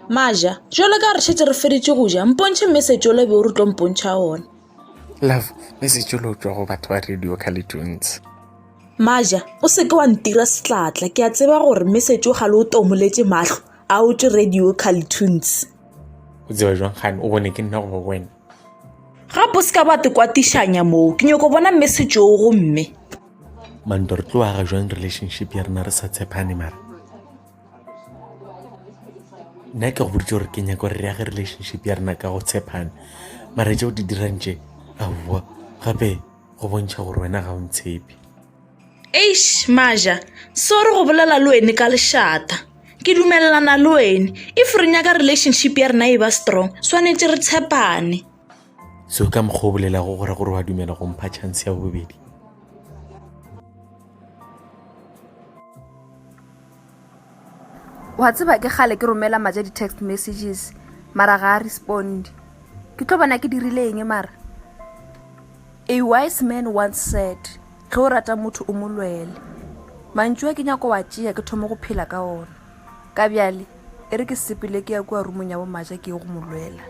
maja jalo ka re šetse re feditše go ja mpontšhe message ole be o re tlo mpontšha one love message ole o tswa go batho ba radio calitunes maja o seke wa ntira setlatla ke a tseba gore message o ga le o tomoletse matlho a o tse radio calitunes o tseba jwang gane o bone ke nna go wena gape o seka ba te kwatišanya moo ke nyoko bona mme setšoo gomme mando re tlo aga jwang relationship ya rena re sa tshepane mara nna ke go boditse gore ke nyako re re age relationship ya rena ka go tshepane mara tse o di dirang tše aowa gape go bontšha gore wena ga o ntshepe eish maja sorry go bolela le wene ka lešata ke dumelelana le wene if re nyaka relationship ya rena e ba strong swanetše re tshepane so ka mokgwa o bolelago gore gore wa dumela go mpha chance ya bobedi wa tseba ke gale ke romela maja di-text messages mara ga a responde ke tlo bona ke dirile eng mara a wise man once said ge o rata motho o mo lwele mantšu a ke nyako wa tšea ke thoma go phela ka ona ka bjale e re ke sepele ke ya kua rumong ya bomaja ke ye go mo lwela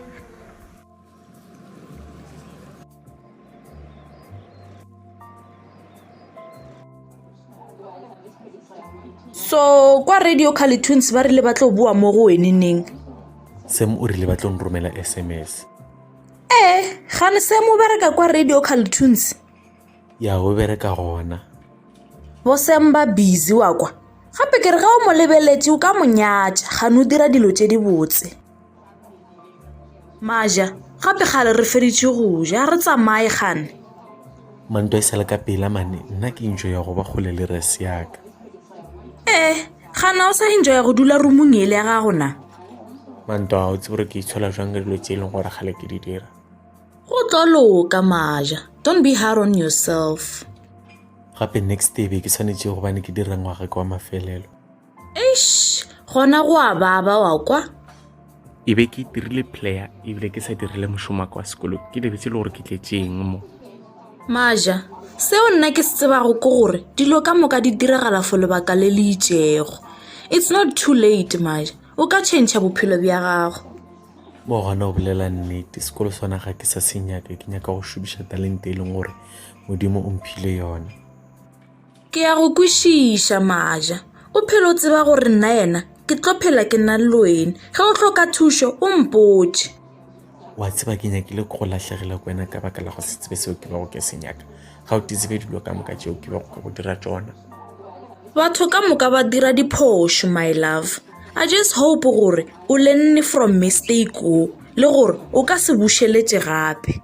so kwa radio carletoons ba rile ba tlo boa mo go wene neng sem o rile ba tlo nromela sms ee eh, gane sem o bereka kwa radio carletoons ya o bereka gona bo sem ba busy wa kwa gape ke re ga o mo lebeletse o ka monyatša gane o dira dilo tse di botse maja gape gale re feditše go ja re tsamaye gane manto e sale ka pela mane nna ke intšo ya go ba kgole le res yaka ee gana o sa intšo ya go dula rumong ele ya gago na manto a o tse gore ke itshola jwang ka dilo tse e leng gore gale ke di dira go tlo loka maja don't be hard on yourself gape next day be ke tshwanetse gobane ke dira ngwaga ke wa mafelelo eish gona go a baba wa kwa e be ke dirile player ebile ke sa dirile mošomo wa ka wa sekolong ke lebetse le gore ke tletseng mo maja seo nna ke se tsebago ke gore dilo ka moka di diragala fo lebaka le le itšego it's not too late maja o ka change bophelo bja gago mo gona o bolela nnete sekolo sona ga ke sa se nyaka ke nyaka go šomiša talente e leng gore modimo o mphile yone Ke ya go kwešiša, Maja. O phela o tseba gore nna yena ke tlo phela ke na le wena. Ge o hloka thušo, o mpotše. Wa tseba ke nyakile go lahlegela ko wena ka baka la go se tsebe seo ke bego ke se nyaka. Ga o titsebe dilo ka moka tšeo ke bego ke go dira tsona. Batho ka moka ba dira diphošo, my love. I just hope gore o lenne from mistake wo le gore o ka se bušeletše gape.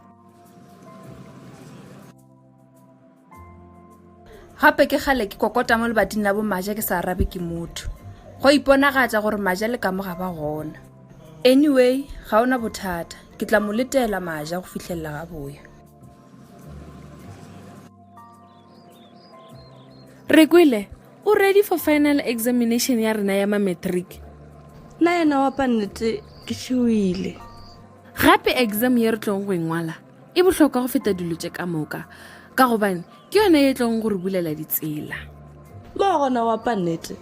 gape ke kgale ke kokota mo lebating la bomaja ke sa arabe ke motho go iponagatša gore maja le kamo ga ba gona anyway ga ona bothata ke tla mo letela maja go fitlhelela ga boya re kwele o ready for final examination ya rena ya mametric la yena wa pannete ke šewile gape exam ye re tlong go engwala e bohlokwa go feta dilo tše ka moka ka gobane ke yone ye tlong gore bulela ditsela mo gona wa pa nnete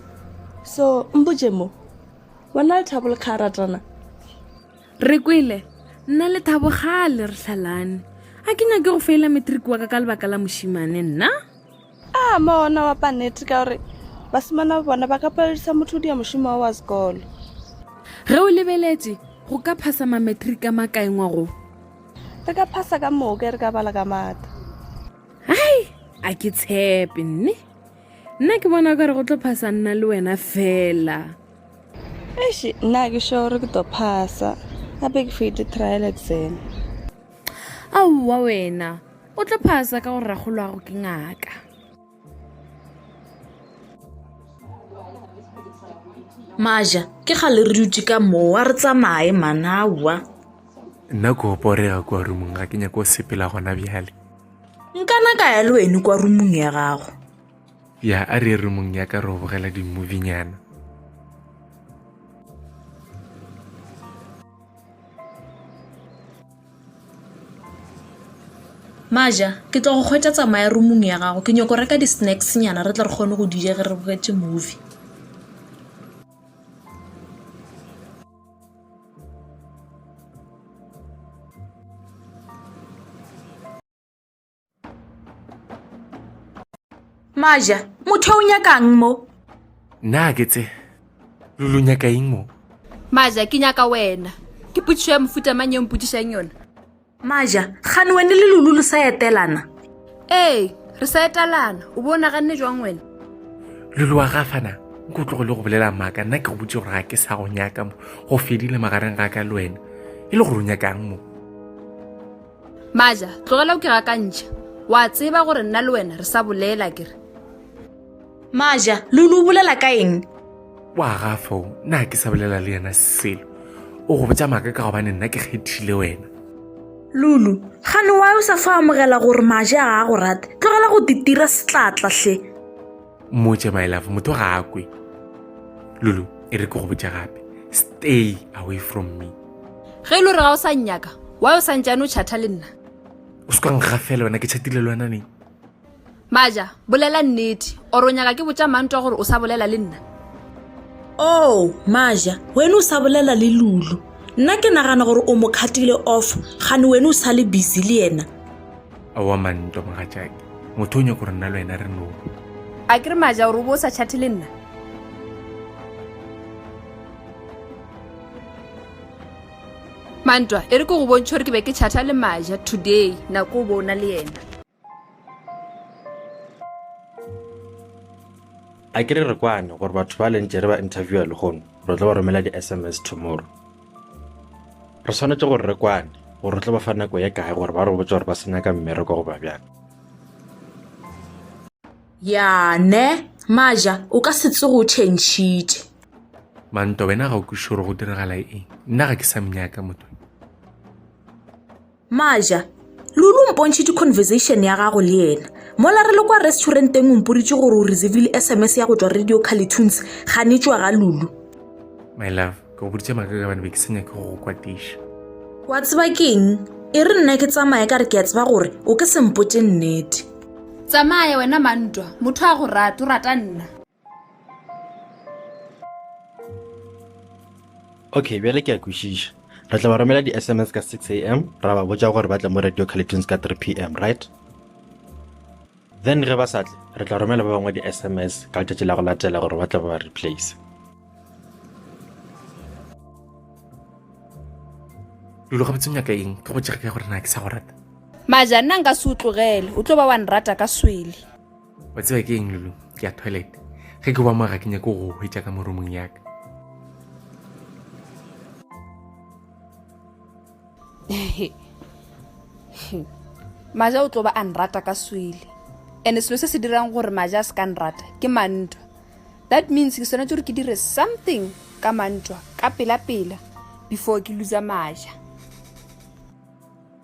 so mpotše mo wena le thabo le kga ratana re kwele nna le thabo gale re hlalane a ke nyake go feela matric wa ka ka lebaka la mošimane nna A mo ona wa paneti ka gore basimana ba bona ba ka paledisa motho o dia mošomo wa wa sekolo. Ge o lebeletše, go ka phasa mametriki a makae ngwa go? Re ka phasa ka moka e re ka bala ka mata. Hai, a ke tshepe, nne. Nna ke bona o ka re go tlo phasa nna le wena fela. Eish, nna ke sure gore ke tlo phasa. Gape ke fete trial exam. Aowa wena, O tlo phasa ka gore rakgolwago ke ngaka. Maja, ke gale re dutse ka mowa re tsamaye manawa. Nna ko oporega kwa rumong ga ke nyako sepela gona bjale. Nkana ka ya le wene kwa rumong ya gago. Ya a re rumong ya ka re go bogela di-movie nyana. Maja, ke tlo go kgwetša tsamaya roomong ya gago. Ke nyoko reka di-snacks nyana re tle re kgone go di ja ge re bogetše movie. maja motho o nyakang mo na ke tse lo lo nyaka eng mo maja ke nyaka wena ke potsiso ya mofuta mang e mpotsisang yona maja gane wene le lulu le sa etelana ee re sa etalana o bo o naganne jwang wena lulu wa gafana nko tlogo le go bolela maaka nna ke go botse gore ga ke sa go nyaka mo go fedile magareng ga ka le wena e le gore o nyakang mo maja tlogela o ke gakantšha wa tseba gore nna le wena re sa bolela kere maja lulu o bolela ka eng wa gafo na ke sa bolela le yena selo o go botsa maaka ka gobane nna ke kgethile wena lulu gane wa o sa fa amogela gore maje a a go rata tlogela go titira setlatlahle motse my love motho ga a kwe lulu e re ke go botša gape stay away from me ge e le gore ga o sa nnyaka wa o sa ntšane o chatha le nna o se kwang ga fela wena ke chatile le wena neng maja bolela nnete oro o nyaka ke botša mantwa gore o sa bolela le nna o oh, maja wena o sa bolela le lulu nna ke nagana gore o mo kgatile off gane wena o sa le busy le yena Aowa man ntwa mogatšake. Motho o nyako gore nna le wena re no. A ke re maja gore o bo o sa chate le nna? Mantwa, e re ke go bontšhe gore ke be ke chata le maja today nako o bo o na le yena. A ke re re kwane gore batho ba lentše re ba interviewer lehono re tlo ba romela di-SMS tomorrow. re swanetše gore re kwane gore re tlo ba fa nako ye kae gore ba re botse gore ba se nyaka mmereko go ba bjang ya ne maja o ka se tsogo o tšhentšhitše manto wena ga o kwiše gore go diragala eng nna ga ke sa mnyaka motho Maja, Lulu o mpontšhe di-conversation ya gago le yena. Mola re le kwa restauranteng o mporitše gore o reservile SMS ya go tšwa Radio Carlitunes ganetšwa ga Lulu. My love, ke go boditše maka ka bane be ke senya ke go go kwatiša. Wa tseba keng? E re nna ke tsamaya ka re ke a tseba gore o ke sempotše nnete. Tsamaya wena mantwa, motho a go rate, o rata nna. okay bjale ke a kwešiša re tla ba romela di-sms ka 6 a m ra ba botša gore ba tle mo radio collections ka 3 p m right then ge ba sa tle re tla romela ba bangwe di-sms ka letšatši la go latela gore ba tle ba ba replace lulo ga botse nyaka eng ke go tšega ka gore na ke sa go rata maja nna nka se o tlogele o tlo ba wa nrata ka swele wa tseba ke eng lulu ke ya toilet ge ke ba mo ga ke nyake go hwetša ka moromong yaka maja o tlo ba a nrata ka swele and selo se se dirang gore maja a se ka nrata ke mantwa that means ke swanetse gore ke dire something ka mantwa ka pela-pela before ke lusa maja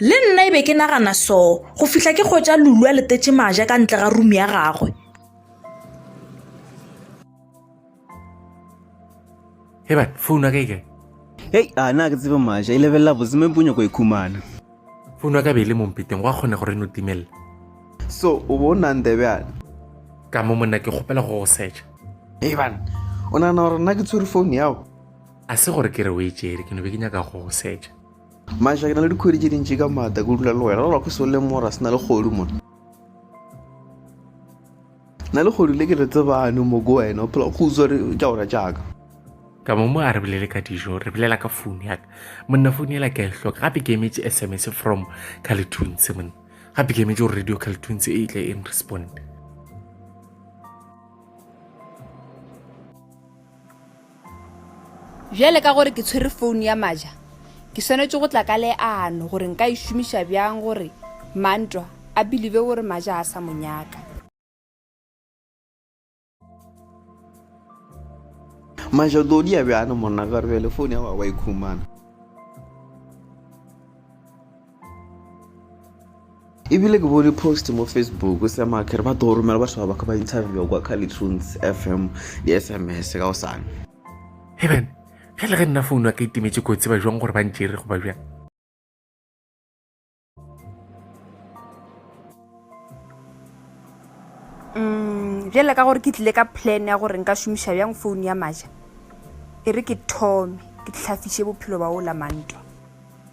le nna e be ke nagana so go fihla ke kgwetsa lulu a letetše maja ka ntle ga rumi ya gagwe eba founu ya ka e kae hei a na ke tsebe maja e lebelela boseme ponyo ko e khumana founu ya ka be e le mompeteng go a kgone gore e no timelela so o bo o nang tebjane ka mo monna ke kgopela go go secha eban o nagana gore nna ke tshwere founu yago a se gore ke re o e tšere ke no be ke nyaka go go setša maša ke na le dikgwedi tše dintši ka maata ke dula le wena lelwa ke sole mora se na le kgodu mona na le kgodu le ke le tsebane mo ko wena o phela go utswa re tša ora jaaka ka mo mo a re bolele ka dijo re bolela ka founu yaka monna founu ela ka e hloka gape ke emetse s m s from caletoons monna gape ke emetse gore radio caletoons e tle e nrespond Bjale ka gore ke tshwere founu ya Maja, ke swanetše go tla ka leano gore nka e šomiša bjang gore Mantwa a bilive gore Maja ga a sa mo nyaka. Maja, o tlo dia bjang monna ka gore bjale founu ya gago wa e khumana? ebile ke bone post mo facebook o sema ke re ba tlo romela batho ba baka ba interview kwa calitunes fm di-sms ka go sane eben ge le ge nna founu a ka itemetse kotsi ba jwang gore ba ntsere go ba bjang mm, bjale ka gore ke tlile ka plan ya gore nka šomiša bjang founu ya maja e re ke thome ke tlhafiše bophelo ba o la mantwa